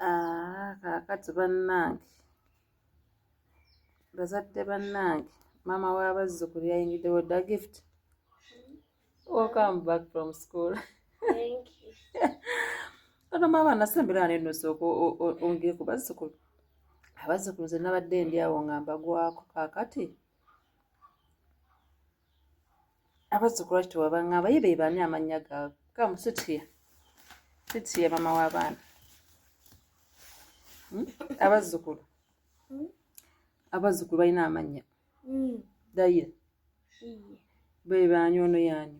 Ah, kaakati bannange bazadde bannange maama w'abazzukulu yayingiddewo dda gift welcome back from school ono maama nasembera ne nosi ongere ku bazzukulu abazzukulu ze nabadde ndi awo nga mbagwako kaakati abazzukulu lwaki tewabangamba ye bebaani amannya gaabwe kamu sitiya sitiya mama w'abaana hmm? abazzukulu hmm? abazzukulu balina amannya hmm. dayira bebaani ono yaani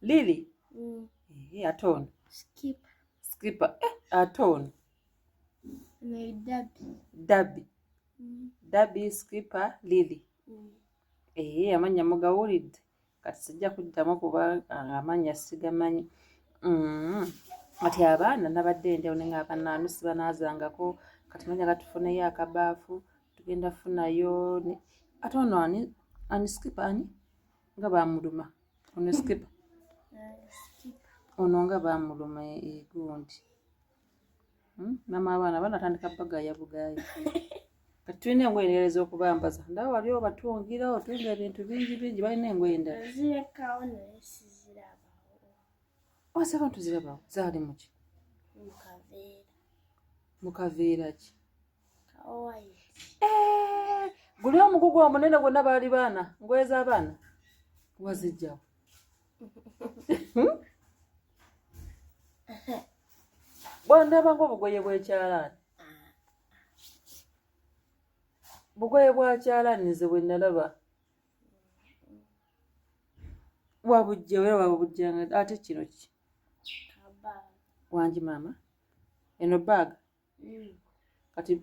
lili eh, ate ono skipa eh, ate ono dabi dabi skipa lili ee eh, amannya mugawulidde kati sijja kuddamu kuba ah, amannya sigamanyi mm-hmm. kati abaana nabadde enjawulo naye nga abaana anu sibanaazangako kati manya gatufuneyo akabaafu tugenda funayo ate ono ani ani skipa ani nga bamuluma ono skipa ono nga bamuluma egundi eh, Hmm? Mama abaana banatandika bagaya bugaya. Kati tulina engoye endala ez'okubambaza. Ndaba wali obatungira otunga ebintu bingi bingi balina engoye endala. Zirekawo naye sizirabawo. Ose oh, abantu zirabawo zaali mu ki? Mu kaveera. Mu kaveera ki? Kawayiti. Eh, guli omugugu omunene gwonna baali baana ngoye z'abaana wazijjawo. hmm? bwandaba ngaobugoye bwekyalaani bugoye bwakyalaani nze bwenalaba wabujja era wabubujjanga ate kino ki wangi maama eno baaga mm. kati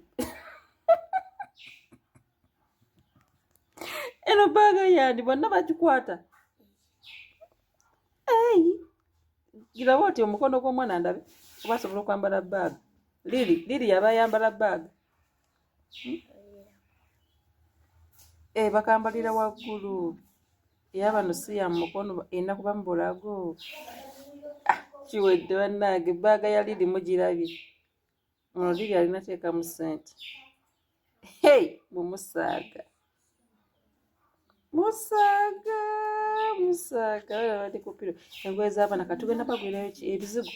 eno baaga yandi bonna bagikwata eyi giraba oti omukono gw'omwana ndabe oba asobola okwambala baaga liri liri yaba ayambala baaga hmm? eh, bakambalira waggulu eyabano si ya mukono erina kuba mu bulago ah, kiwedde bannange ebbaaga ya liri mugirabye ono liri alina teekamu sente hey mumusaaga musaaga musaaga abana bali kupiro engoye z'abaana katugenda bagwirayo ebizigo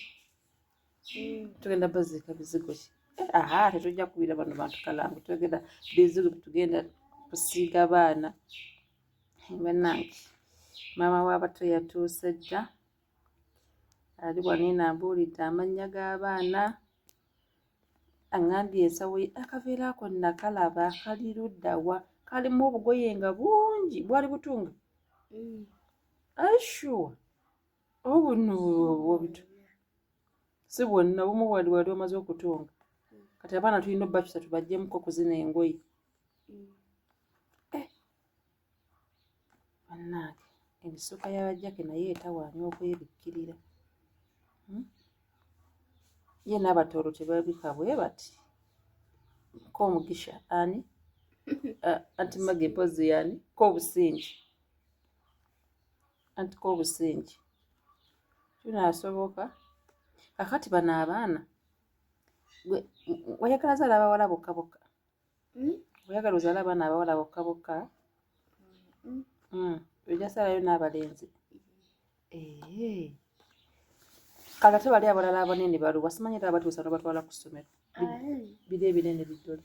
tugenda baziika bizigo ki aha tetujja kubira bano bantu kalangu twegenda bizigo tugenda kusiiga baana banange maama wabato yatuuse dda ali wanene ambuulidde amannya g'abaana aŋambye ensawo ye akaveera ako nakalaba kali luddawa kalimu obugoye nga bungi bwali butunga mm. asure oba buno bwobitu si bwonna obumu bwali wali omaze okutunga kati abaana tulina obbakisa tubajjemuko okuzina engoye mm. eh. bannange emisuka yabajjake naye etawaanya okwebikkirira hmm? ye n'abatooro tebabika bwe bati k'omugisha ani anti mage mpozi yani k'obusingi anti ko obusingi kinaasoboka kakati bano abaana oyagala zaala abawala bokka bokka hmm? oyagala ozaala abaana abawala bokka bokka hmm. hmm. ojasaalayo n'abalenzi kale ate bali abalala abanene baluwa simanyi era abatuusa nobatwala ku ssomero biri ebinene biddole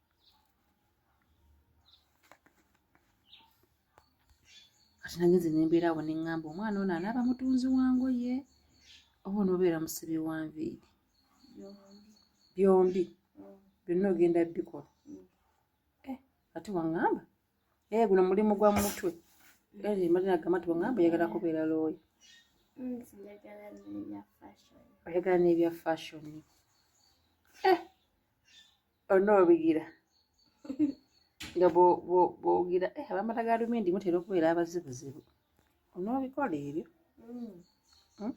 kati nagenze nembeera awo neŋŋamba omwana ono anaaba mutunzi wangoye oba onoobeera musibi wa nviiri byombi byonna ogenda bikola eh, ati waŋŋamba ee eh, guno mulimu gwa mutwe eh, mali nagamba ti waŋŋamba oyagala kubeera looyo mm, oyagala n'ebya fashoni onoobigira nga bwogira eh, abamata ga lumindi mutera okubeera abazibuzibu onoobikola ebyo mm. hmm?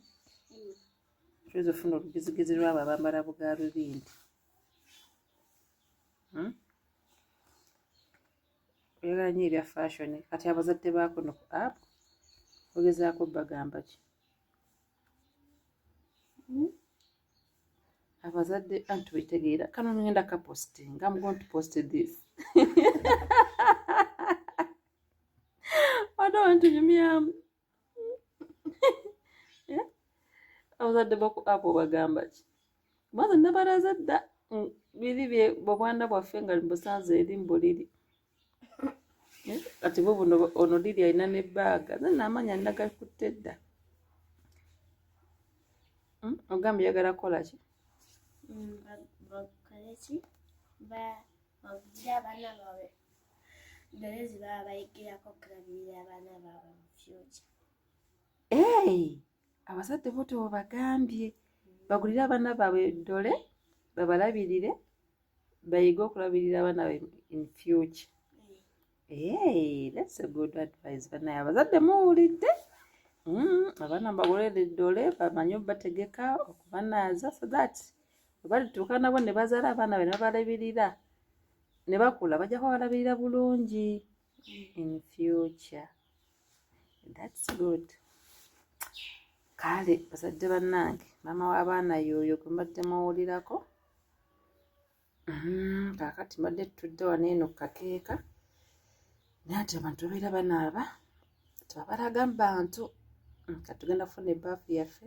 oyinza ofuna olugezigezi lwabo abambala buga lumindi hmm? oyagala nyo ebya fashion kati abazadde bakuno ku app ogezaako bagamba ki hmm? abazadde anti bitegeera kano ngenda kaposting am going to post this odo wantu nyumyamu abazadde baku apo bagamba ki maze nabaraza dda mm, biri bye bobwana bwaffe nga mbusanze eri mbuliri eh, kati bwe buno ono diri alina ne baaga zena amaanyi alina gakutte dda hmm? ogamba yagala kukola ki mm, bagira abaana baabwe dole ze baba bayigirako okulabirira abaana baabwe mu fyuca abazadde bo tebobagambye bagulire abaana baabwe dole babalabirire bayige okulabirira abaana be in future Hey, that's a good advice banaye abazadde muwulidde mm, abaana mbagolere eddole bamanye obategeka okubanaaza so that balituuka nabo ne bazaala abaana be nebabalabirira ne bakula bajja kuba balabirira bulungi in future that's good kale bazadde bannange maama w'abaana yooyo gwe mbadde muwulirako mm, kaakati mbadde tutudde wano eno kukakeeka naye ati abantu babeera banaaba tebabalaga mu bantu mm, katugenda kufuna ebaafu yaffe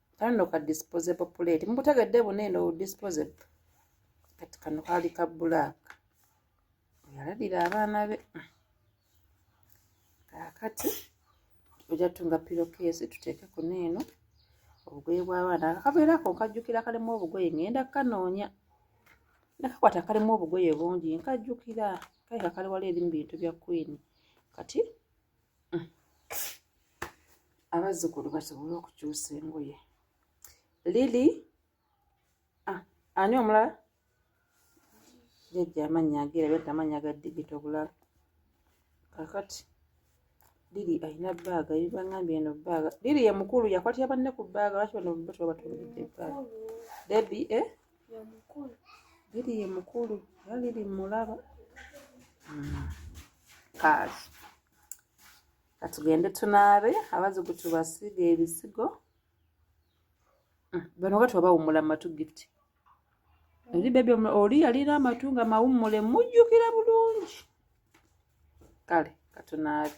kano no ka disposable plate mubutegedde buna eno disposable kati kano kaali ka black yalabira abaana be kakati oja tunga pilokeesi tuteeke kuno eno obugoye bw'abaana akaveera ako nkajjukira kalimu obugoye ngenda kukanoonya nakakwata kalimu obugoye bungi nkajjukira kaika kali wala eri mu bintu bya kwini kati mm. abazzukulu basobole okukyusa engoye lili ah, ani omulala jajja amannya ageera bati amannya ga digito obulala kakati lili alina baaga yibangambye eno baaga lili ye mukulu yakwatira banne ku baaga lwaki bano batubatungidde baaga debi e eh? Lili ye mukulu era lili mulaba kaazi katugende tunaabe abazigu tubasiga ebisigo hmm, bano kati wabawummula matu gift eri bebi oli yalina amatu nga mawummule mujjukira bulungi kale katunaabe